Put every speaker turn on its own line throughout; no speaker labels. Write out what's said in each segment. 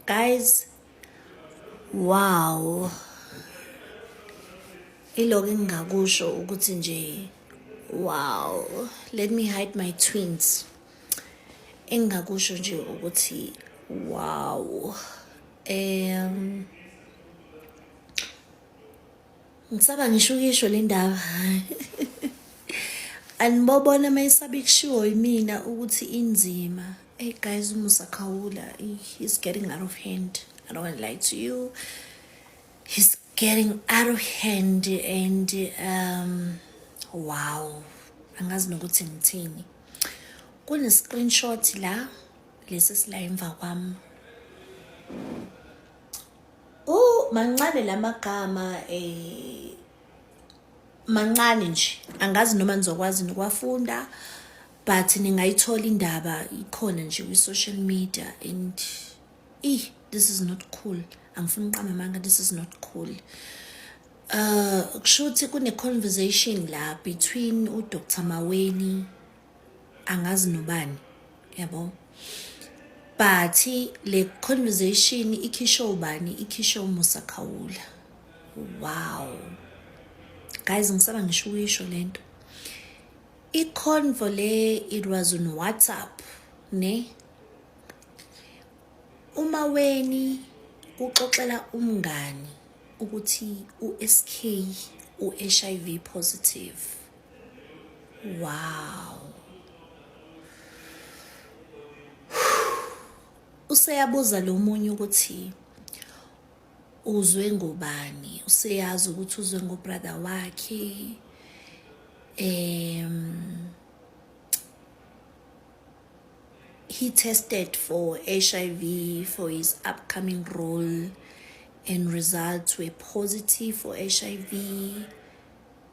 guys wow ilokho engingakusho ukuthi nje wow let me hide my twins engingakusho nje ukuthi wow um Ngisaba ngisho ukisho le ndaba. Anibobona uma isaba ikushiwo yimina ukuthi inzima. Hey guys, umusa khawula. He's getting out of hand. I don't want to lie to you. He's getting out of hand and um wow. Angazi nokuthi ngithini. Kune screenshot la lesi sila emva kwami. mancane la magama eh mancane nje angazi noma nizokwazi nokwafunda but ningayithola indaba ikhona nje kwi-social media and eh this is not cool angifuni uqamba amanga this is not cool uh kusho ukuthi kune-conversation la between udr maweni angazi nobani yabo but le conversation ikhisho ubani ikhisho umusa khawula wow guys ngisaba ngisho ukuyisho lento iconvo le it was on whatsapp ne uma weni uxoxela umngani ukuthi uSK uHIV positive wow useyabuza lo munye ukuthi uzwe ngobani useyazi ukuthi uzwe ngobrother wakhe um he tested for HIV for his upcoming role and results were positive for HIV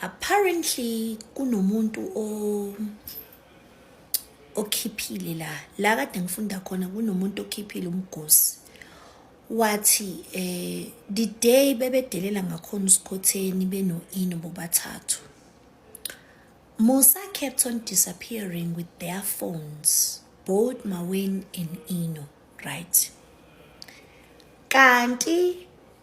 apparently kunomuntu o okhiphile la la kade ngifunda khona kunomuntu okhiphile umgosi wathi eh the day bebedelela ngakhona usikhotheni benoino bobathathu Musa kept on disappearing with their phones both Mawen and Ino right kanti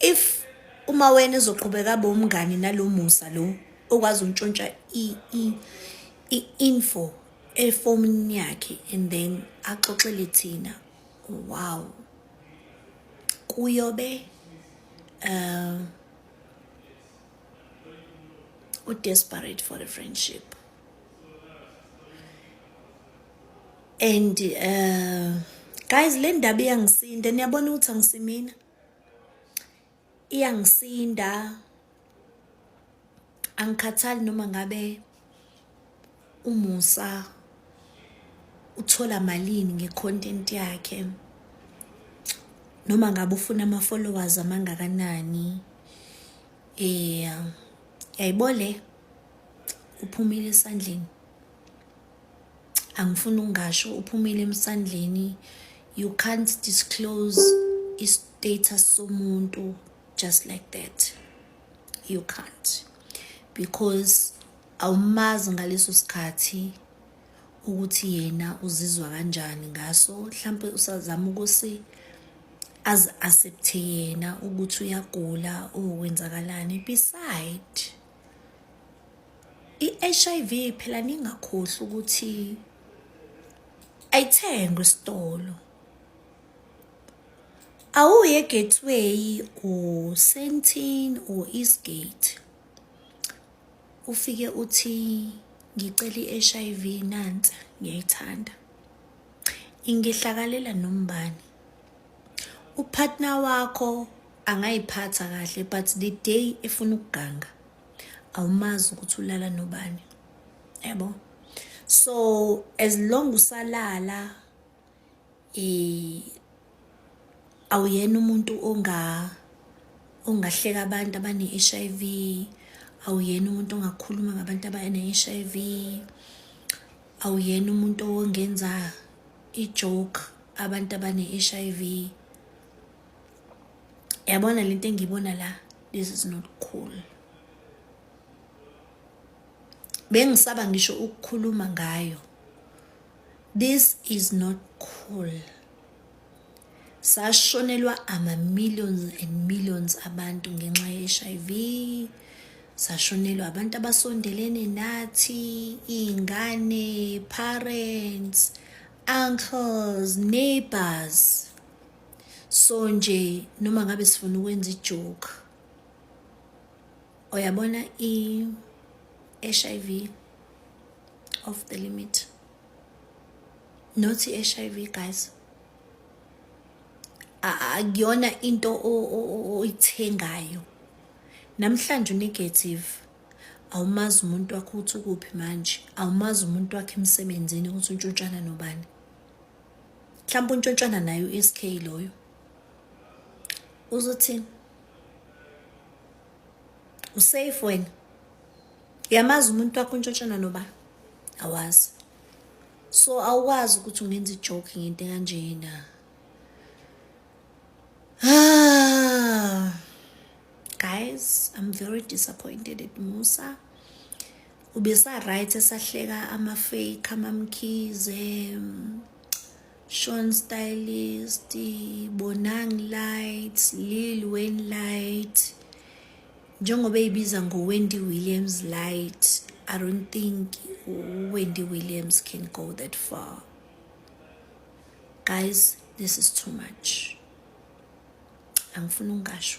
if uma wena ezoqhubeka bomngani nalomusa lo okwazi untshontsha i info efomin yakhe and then axoxele thina wow kuyobe uh u desperate for a friendship and uh guys le ndaba iyangisinda niyabona ukuthi angisimina iyangisinda angikhathali noma ngabe umusa uthola malini ngecontent yakhe noma ngabe ufuna ama followers amangakanani eh yayibole uphumile esandleni angifuni ukungasho uphumile emsandleni you can't disclose i-status somuntu just like that you can't because awumazi ngaleso sikhathi ukuthi yena uzizwa kanjani ngaso mhlampe usazama ukuthi azi-accepthe yena ukuthi uyagula or wenzakalani beside I-HIV phela ningakhohlwa ukuthi ayithengwe esitolo. Awuye eGateway uSentin or Eastgate. Ufike uthi ngicela i-HIV nansi ngiyayithanda. Ingehlakalela nombani. Upartner wakho angayiphatha kahle but the day efuna ukuganga awumazi ukuthi ulala nobani yabo so as long usalala eh awuyena umuntu onga ongahleka abantu abane HIV awuyena umuntu ongakhuluma ngabantu abane HIV awuyena umuntu ongenza i-joke abantu abane-HIV yabona lento engiyibona la this is not cool bengisaba ngisho ukukhuluma ngayo this is not cool sashonelwa ama millions and millions abantu ngenxa ye HIV sashonelwa abantu abasondelene nathi ingane parents uncles neighbors so nje noma ngabe sifuna ukwenza ijoke uyabona i-hiv of the limit not i-hiv guys akuyona into oyithengayo namhlanje unegative awumazi umuntu wakho ukuthi ukuphi manje awumazi umuntu wakhe emsebenzini ukuthi untshutshana nobani mhlawumbe untshontshana naye u-sk loyo uzothini usafe wena uyamazi umuntu wakho untshotshana noba awazi so awukwazi ukuthi ungenza ijoke ngento kanjena ah guys i'm very disappointed at musa ubesaright esahleka amafake amamkhize Sean Stylist, Bonang Lights, Lil Wayne Light njengoba eyibiza ngo-Wendy Williams Light I don't think Wendy Williams can go that far guys this is too much angifuni ungasho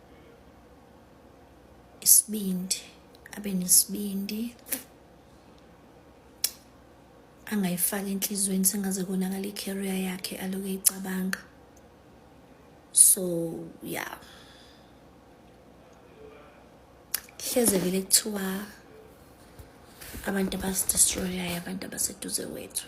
isibindi abe nesibindi angayifaki enhliziyweni sengaze konakala i-career yakhe aloke eyicabanga so yeah hleze vele kuthiwa abantu abasi-destroyayo abantu abaseduze wethu